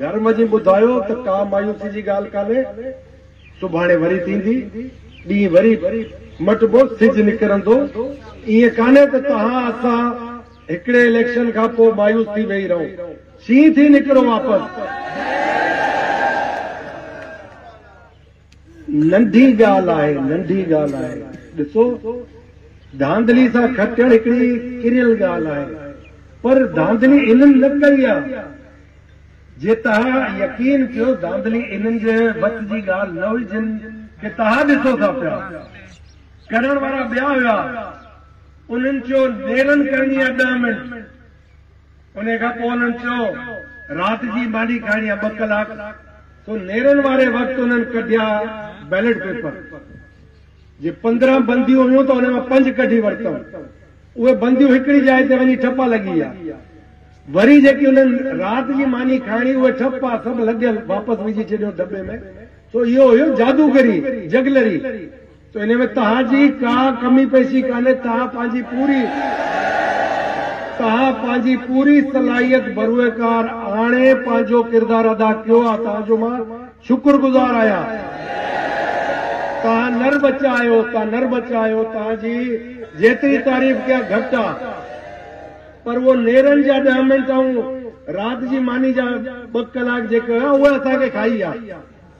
گهر وڃي ٻڌايو ته ڪا مايوسي جي ڳالهه ڪانهي، سڀاڻي وري ٿيندي، ڏينهن وري مٽبو، سج نڪرندو، ائين ڪانهي ته توهان اسان هڪڙي اليڪشن کان پوء مايوس ٿي ويهي رهون، شينهن ٿي نڪرو واپس. ننڍي ڳالهه آهي، ننڍي ڳالهه آهي. ڏسو، ڌانڌلي سان کٽڻ هڪڙي ڪريل ڳالهه آهي، پر ڌانڌلي انهن نه ڪئي آ. جي توهان يقين ڪيو ڌانڌلي انهن جي وس جي ڳالهه نه هئي جن کي توهان ڏسو ٿا پيا. ڪرڻ وارا ٻيا هيا. انهن چيو نيرن ڪرڻي آ ڏهه منٽ. انهيء کان پوء انهن چيو، رات جي ماني کائڻي آهي، ٻه ڪلاڪ، سو نيرن واري وقت انهن ڪڍيا بيلٽ پيپر. جي پندرهن بنديون هيون ته انهن مان پنج ڪڍي ورتئون. اهي بنديون هڪڙي جاء تي وڃي ٺپا لڳي ويا. وري جيڪي انهن رات جي ماني کائڻي، اهي ٺپا سڀ لڳيل واپس وجهي ڇڏيون دٻي ۾. سو اهو هيو جادوگري، جگلري. ته انهيء ۾ توهان جي ڪا ڪمي پيشي ڪانهي، توهان پنهنجي پوري توهان پنهنجي پوري صلاحيت ڀرويڪار آڻي پنهنجو ڪردار ادا ڪيو آهي توهان جو مان شڪرگذار آهيان توهان نر ٻچا آهيو توهان نر ٻچا آهيو توهان جي جيتري تعريف ڪيان گهٽ آهي پر اهو نيرن جا ڏهه منٽ ۽ رات جي ماني جا ٻه ڪلاڪ جيڪي هيا اهي اسان کي کائي ويا.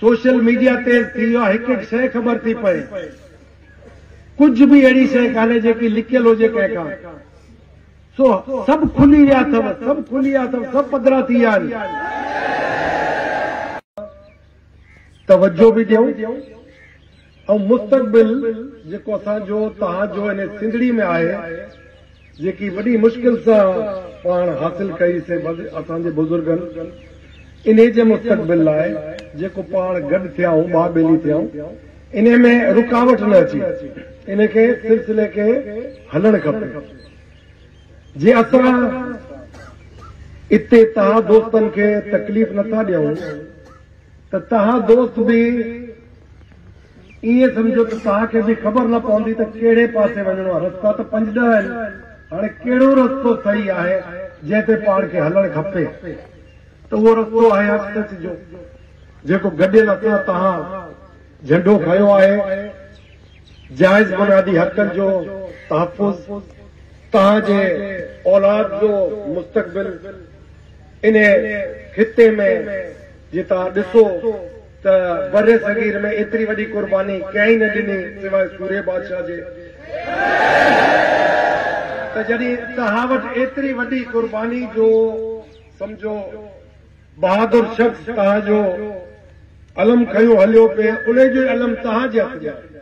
سوشل ميڊيا تيز ٿي ويو آهي هڪ هڪ شيء خبر ٿي پئي ڪجهه به اهڙي شيء ڪانهي جيڪي لڪيل هجي ڪنهن کان سو سڀ کلي ويا اٿو سڀ کلي ويا اٿو سڀ پڌرا ٿي ويا آهن توجه به ڏيو ۽ مستقبل جيڪو اسان جو توهان جو انهي سنڌڙي ۾ آهي جيڪي وڏي مشڪل سان پاڻ حاصل ڪئي سي اسان جي بزرگن انهي جي مستقبل لاء جيڪو پاڻ گڏ ٿيائون ٻاهه ٻيلي ٿيائون انهي ۾ رڪاوٽ نه اچي انهي کي سلسلي کي هلڻ کپي جي اسان اتي تهان دوستن کي تڪليف نه ٿا ڏيون. ته توهان دوست به ائين سمجهو ته توهان کي به خبر نه پوندي ته ڪهڙي پاسي وڃڻو آهي، رستا ته پنج ڏهه آهن، هاڻي ڪهڙو رستو صحيح آهي جنهن تي پاڻ کي هلڻ کپي ته اهو رستو آهي حق سچ جو، جيڪو گڏيل اسان توهان جهنڊو کنيو آهي، جائز بنيادي حقن جو تحفظ، توهان جي اولاد جو مستقبل. انهيء خطي ۾ جي توهان ڏسو ته برصغير ۾ ايتري وڏي قرباني ڪنهن ئي نه ڏني سواء سوريه بادشاهه جي ته جڏهن توهان وٽ ايتري وڏي قرباني جو سمجهو بهادر شخص توهان جو علم کنيو هليو پئي انهي جو ئي علم توهان جي هٿ ۾ آهي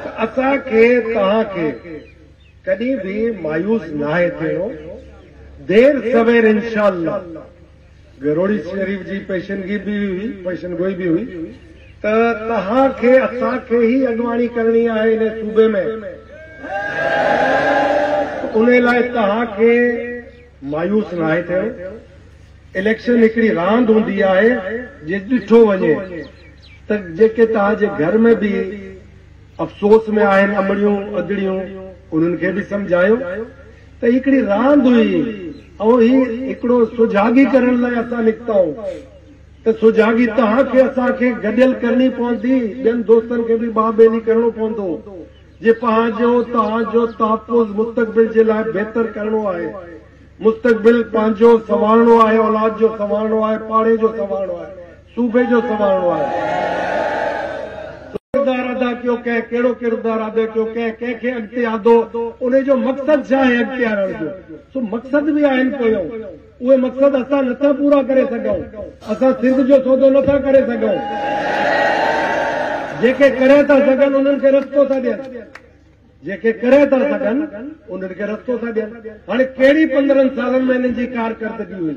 ته اسان کي توهان کي ڪڏهن به مايوس ناهي ٿيڻو، دير سوير انشاء الله گهروڙي شريف جي پيشنگي به هئي، پيشن گوئي به هئي ته توهان کي اسان کي ئي اڳواڻي ڪرڻي آهي انهي صوبي ۾ انهي لاء توهان کي مايوس ناهي ٿيڻو، اليڪشن هڪڙي راند هوندي آهي جي ڏٺو وڃي ته جيڪي توهان جي گهر ۾ به افسوس ۾ آهن امڙيون ادڙيون انهن کي به سمجهايو ته هي هڪڙي راند هئي ۽ هي هڪڙو سجاڳي ڪرڻ لاء اسان نڪتائون ته سجاڳي تهان کي اسان کي گڏيل ڪرڻي پوندي ٻين دوستن کي به ٻانهن ٻيلي ڪرڻو پوندو جي پنهنجو تهان جو تحفظ مستقبل جي لاء بهتر ڪرڻو آهي مستقبل پنهنجو سنوارڻو آهي اولاد جو سنوارڻو آهي پاڙي جو سنوارڻو آهي. صوبي جو سنوارڻو آهي ڪردار ادا ڪيو ڪنهن ڪهڙو ڪردار ادا ڪيو ڪنهن ڪنهن کي اڳتي آندو انهي جو مقصد ڇا آهي اڳتي آڻڻ جو سو مقصد به آهن پويون اهي مقصد اسان نٿا پورا ڪري سگهون اسان سنڌ جو سودو نٿا ڪري سگهون جيڪي ڪري ٿا سگهن انهن کي رستو ٿا ڏين جيڪي ڪري ٿا سگهن انهن کي رستو ٿا ڏين هاڻي ڪهڙي پندرهن سالن ۾ انهن جي ڪارڪردگي هئي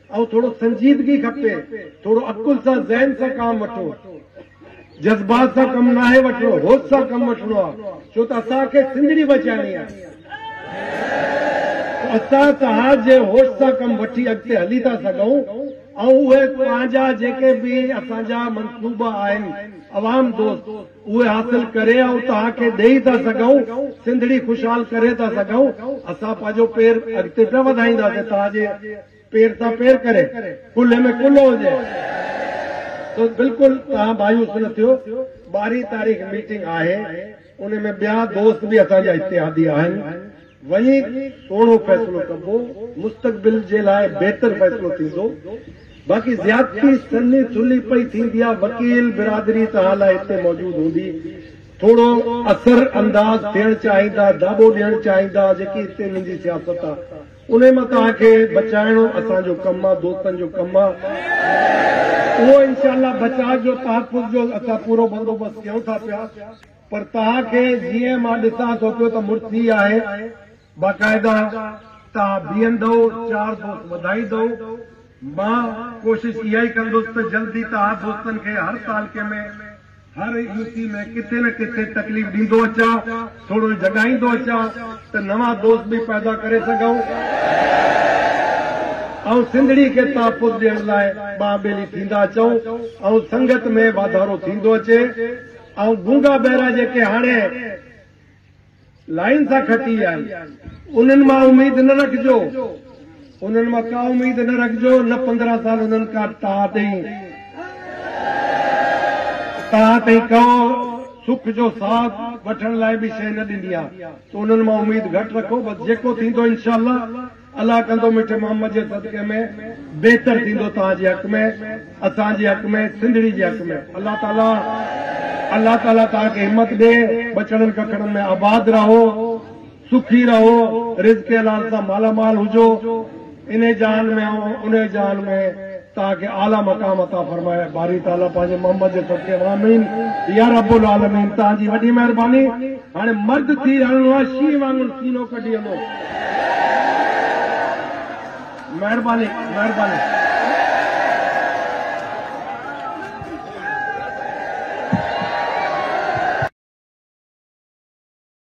اهو ٿورو سنجيدگي کپي، ٿورو عقل سان ذهن سان ڪام وٺو، جذبات سان ڪم ناهي وٺڻو، هوش سان ڪم وٺڻو آهي، ڇو ته اسان کي سنڌڙي بچائڻي آهي، ته اسان توهان جي هوش سان ڪم وٺي اڳتي هلي ٿا سگهون، ۽ اهي پنهنجا جيڪي به اسان جا منصوبا آهن عوام دوست. اهي حاصل ڪري آئون توهان کي ڏيئي ٿا سگهون، سنڌڙي خوشحال ڪري ٿا سگهون، اسان پنهنجو پير اڳتي پيا وڌائينداسين توهان جي پير سان پير ڪري، ڪلهي ۾ ڪلهو هجي. سو بلڪل توهان مايوس نه ٿيو، ٻارهين تاريخ ميٽنگ آهي، ان ۾ ٻيا دوست به اسان جا اتحادي آهن، وڃي توڙو فيصلو ڪبو، مستقبل جي لاء بهتر فيصلو ٿيندو، باقي زيادتي سنهي ٿلهي پئي ٿيندي آ، وڪيل برادري ته حالا هتي موجود هوندي، ٿورو اثر انداز ٿيڻ چاهيندا، داٻو ڏيڻ چاهيندا، جيڪي هتي انهن جي سياست آ، انهي مان توهان کي بچائڻو اسان جو ڪم آ، دوستن جو ڪم آ، اهو انشاء الله بچاء جو تحفظ جو اسان پورو بندوبست ڪيون ٿا پيا. پر توهان کي جيئن مان ڏسان ٿو پيو ته مڙسي آهي. باقاعده توهان بيهندؤ، چار دوست وڌائيندؤ. مان ڪوشش اها ئي ڪندس ته جلدي توهان دوستن کي هر تعلقي ۾ هر يو سي ۾ ڪٿي نه ڪٿي تڪليف ڏيندو اچان، ٿورو جڳائيندو اچان ته نوان دوست به پيدا ڪري سگهون ۽ سنڌڙي کي تحفظ ڏيڻ لاء ٻانهن ٻيلي ٿيندا اچون ۽ سنگت ۾ واڌارو ٿيندو اچي. ۽ گونگا بهرا جيڪي هاڻي لائين سان کٽي آهن انهن مان اميد نه رکجو انهن مان ڪا اميد نه رکجو نه پندرهن سال انهن ڪا تاء تي تاء تي ڪو سک جو ساهه وٺڻ لاء به شيء نه ڏني آهي سو انهن مان اميد گهٽ رکو بس جيڪو ٿيندو انشاء الله الله ڪندو مٺي محمد جي صدقي ۾ بهتر ٿيندو توهان جي حق ۾ اسان جي حق ۾ سنڌڙي جي حق ۾ الله تعالي الله تعالي توهان کي همت ڏي ٻچڙن ڪڪڙن ۾ آباد رهو سکي رهو رزق حلال سان مالا مال هجو انهي جهان ۾ ۽ انهي جهان ۾ توهان کي اعليٰ مقام عطا فرمائي باري تعالي پنهنجي محمد جي صدقي آمين يا رب العالمين توهان جي وڏي مهرباني هاڻي مرد ٿي هلڻو آهي شينهن وانگر سينو ڪڍي هلو. مهرباني مهرباني.